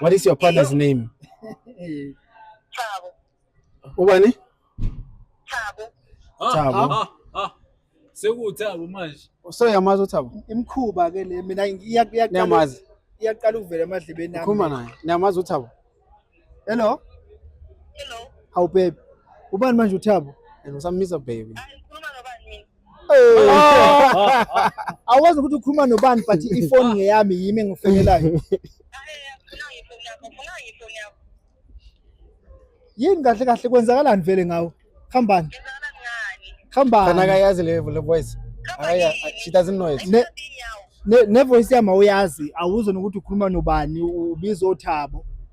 What is your partner's name? Thabo. Ubani? Thabo. Ah, Thabo. Ah, ah. Sekuthabo manje. So yamazi uThabo? Imkhuba ke le mina iyaqala. Niyamazi. Iyaqala ukuvela emadlebeni nami. Khuluma naye. Niyamazi uThabo? Hello. Hello. How babe? Ubani manje uThabo? And usamisa baby. Hayi. Awazi ukuthi ukhuluma nobani but ifoni ngeyami yimi engifonelayo. Yini kahle kahle kwenzakalani vele ngawo? Khambani. Khambani. Kana kayazi le le voice. Aya she doesn't know it. Ne, ne, ne voice yami awuyazi awuzona ukuthi ukhuluma nobani ubiza othabo.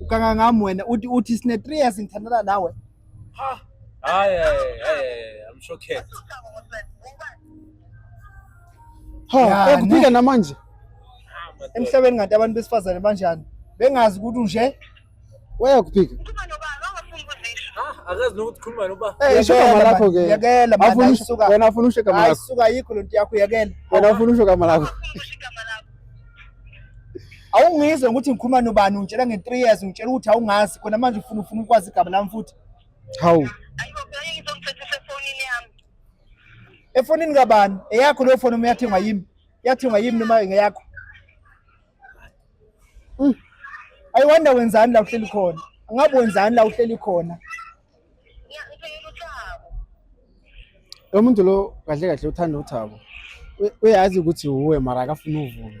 Ukanga ngami wena uthi uthi sine 3 years ngithandana nawe. Ha. Hayi hayi I'm shocked. Ha, ekuphika namanje. Emhlabeni ngathi abantu besifazane banjani? Bengazi ukuthi unje. Weya kuphika. akazi nokuthi khuluma noba eh, isho gama lakho ke yekela manje wena ufuna usho gama lakho ayisuka yikho lento yakho yekela wena ufuna usho gama lakho awungizwe ukuthi ngikhuluma nobani ungitshela nge-3 years ungitshela ukuthi awungazi khona manje ufuna ufuna ukwazi igama lami futhi hawu efonini kabani eyakho leyo foni uma yathengwa yimi yathengwa yimi noma ngeyakho mm. ayiwanda wenzani la uhleli khona angabe wenzani la uhleli khona Lo muntu lo kahle kahle uthanda uThabo. U- Uyazi ukuthi wuwe mara akafuni uvume.